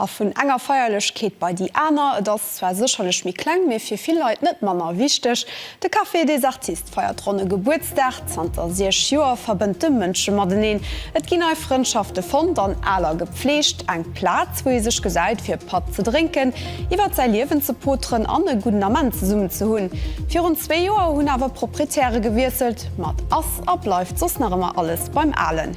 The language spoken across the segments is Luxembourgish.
A vun enger Feierlechkeet bei déi aner. Et ass zwar sécherlech méi kleng, mee fir vill Leit net manner wichteg. De Café des Artistes feiert ronne Gebuertsdag. Zanter siech Joer verbënnt e Mënsche mateneen. Et ginn nei Frëndschafte fonnt an aler gepflegt. Eng Plaz, wou ee sech gesäit, fir Patt ze drénken, iwwert säi Liewen ze poteren an e gudden Ament zesummen ze hunn. Virun zwee Joer hunn awer d'Proprietäre gewiesselt. Mat ass a bleift soss nach ëmmer alles beim Alen.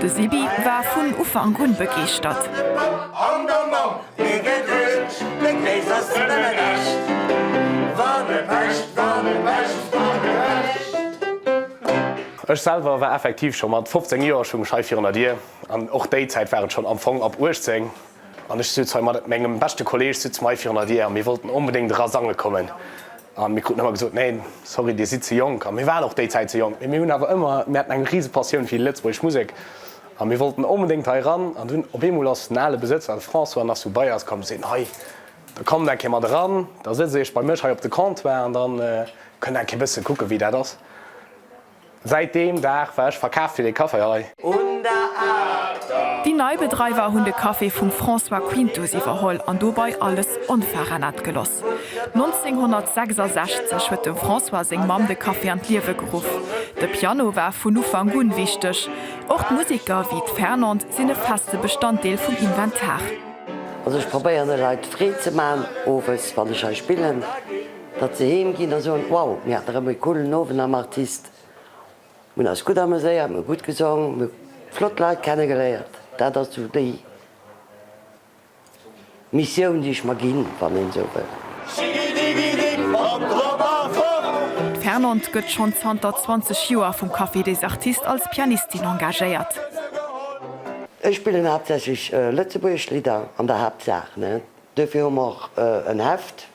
De Sibi war vun Ufank un begeeschtert. Ech selwer war effektiv scho mat 15 Joer schonn schei virun der Dier an och déi Zäit war et schonn am Fong ab 18 an ech sutz hei mat mengem beschte Kolleeg sutz mer hei virun der Dier a mir wollten onbedéngt era sange kommen. A mir kruten ëmmer gesot, nee, sorry, dir sidd ze jonk. A mir waren och déi Zäit ze jonk, mee mir hunn awer ëmmer, mir haten eng rise Passioun fir déi lëtzebuergesch Musek a mir wollten onbedéngt hei eran. An dunn op eemol ass den ale Besëtzer, de François Nassou, bei eis komm a seet, hei, da kommt eng Kéier mat eran, da sëtzt Dir Iech bei mech hei op de Comptoir an da kënnt Dir eng Kéier e bësse kucken, wéi dat ass. Säit deem Dag war ech verkaaft fir dee Café hei. Un der Aarter. Déi nei Bedreiwer hunn de Café vum François Quintus iwwerholl an dobai alles onveränert geloss. 1966 huet dem François seng Mamm de Café an d'Liewe geruff. De Piano war vun Ufank un wichteg. Och d'Musiker, wéi d'Fernande, sinn e feste Bestanddeel vum Inventar. Also ech probéieren de Leit Freed ze man owes wann ech hei spillen. Datt se heem ginn a soen, wow, mir haten erëm e coolen Owend am Artist, mir hunn eis gutt ameséiert, mir hu gutt gesong, mir hu flott Leit kennegeléiert, dat ass esou déi Missioun, déi ech mer ginn, wann een esou wëll. Schigidigidig an drop a fort! D'Fernande gëtt schonn zanter 20 Joer vum Café des Artistes als Pianistin engagéiert. Ech spillen haaptsächlech lëtzebuergesch Lidder, an der Haaptsaach, ne? Duerfir hu mer och en Heft,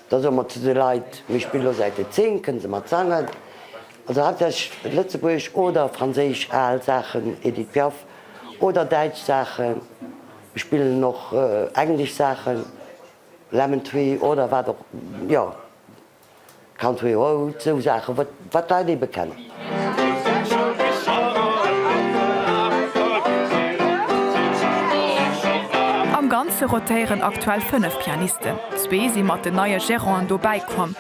Da soe mer zu de Leit, Mir spille lo Säite 10, kënnt se mat sangen? Also haaptsächlech lëtzebuergesch oder franséisch al Saachen, Edith Piaf, oder däitsch Saachen. Mir spillen och englesch Saachen, Lemon Tree oder wat och, jo. Country Roads, sou Saachen, wat d'Leit ebe kennen. Am Ganze rotéieren aktuell fënnef Pianisten, zwee si mat den neie Geranten dobäi komm.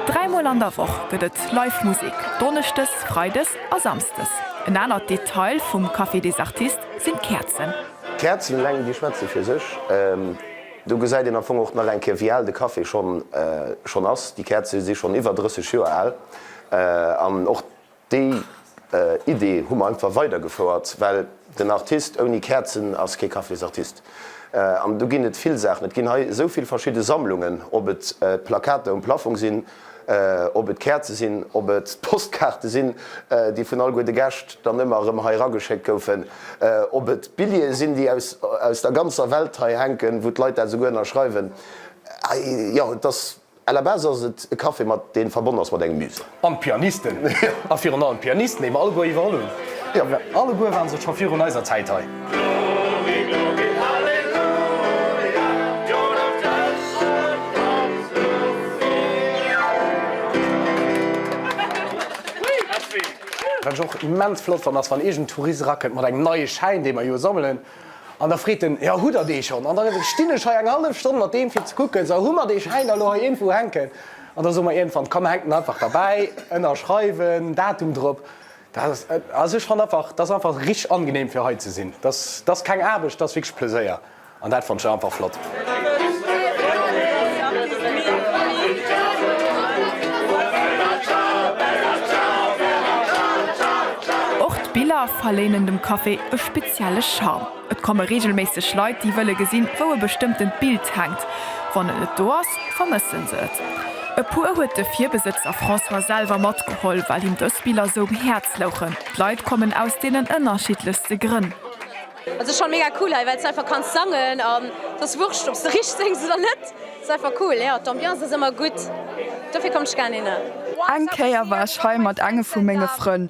Dräi Mol an der Woch gëtt et live Musek, donneschdes, freides a samsdes. En anert Detail vum Café des Artistes sinn d'Käerzen. D'Käerzen eleng, déi schwätze fir sech. Do gesäit een am Fong och nach eng Kéier, wéi al de Café schonn ass. Déi Käerze si schonn iwwer 30 Joer al. An och déi Idee hu mer einfach weidergefouert, well den Artist ouni Käerzen ass kee Cafésartist. An do ginn et vill Saachen. Et ginn hei esou vill verschidde Sammlungen, ob et d'Plakater um Plaffong sinn, Ob et d'Käerze sinn, ob et d'Postkaarte sinn, déi vun alleguer de Gäscht dann ëmmer erëm hei erageschéckt goufen, ob et d'Billjeeë sinn, déi aus der ganzer Welt hei hänken, wou d'Leit dat esouguer ënnerschreiwen, jo, et ass, à la base ass et e Café, mat dee verbonnen ass mat engem Musée. An d'Pianisten, a virun allem d'Pianisten, déi mer alleguer iwwerholl hunn, alleguer ware se scho virun eiser Zäit hei. Wat ech och immens flott fannen ass wann iergend Tourist erakënnt mat engem neie Schäin dee mer jo sammelen an da freet en, jo hutt der dee schonn? An da stinn ech hei eng hallef Stonn mat deem fir ze kucken, esou, hu mer dee Schäin da lo hei iergendwou hänken? An da soe mer iergendwann, komm hänk den einfach derbäi, ënnerschreiwen, Datum drop. Also ech fannt einfach, dass einfach richteg angenehm fir hei ze sinn. Dass dass keng Aarbecht, dass wierklech Pleséier an dat fannt ech einfach flott. Och d'Biller verléinen dem Café e spezielle Charme. Et komme reegelméisseg Leit, déi wëlle gesinn, wou e bestëmmtent Bild hänkt. Wann et net do ass, vermëssen se et. E puer huet de Virbesëtzer François selwer matgeholl, well him dës Biller esou um Häerz louchen. D'Leit kommen aus deenen ënnerschiddlechste Grënn. Et ass schonn mega cool hei, well s de einfach kanns sangen an et ass wurscht, ob s de richteg séngs oder net. Et ass einfach cool, jo. D'Ambiance ass ëmmer gutt, dofir kommt ech gären hinner. Eng Kéier war ech hei mat engem vu menge Frënn,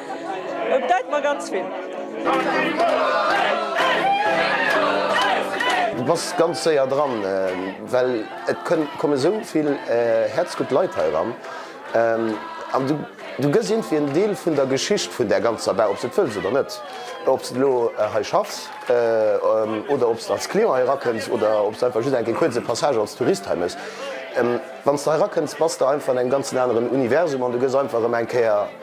Et bedeit mer ganz vill. Du bass ganz séier dran, well et kommen esou vill häerzgutt Leit hei eran an du gëss iergendwéi en Deel vun der Geschicht vun där ganzer Bar, ob s de et wëlls oder net. Ob s de elo hei schaffs oder ob s de als Client hei erakënns oder ob s de einfach just eng Kéier kuerz e Passage als Tourist hei méchs, wann s de hei erakënns, bass de einfach an engem ganzen aneren Universum an du gëss einfach erëm eng Kéier.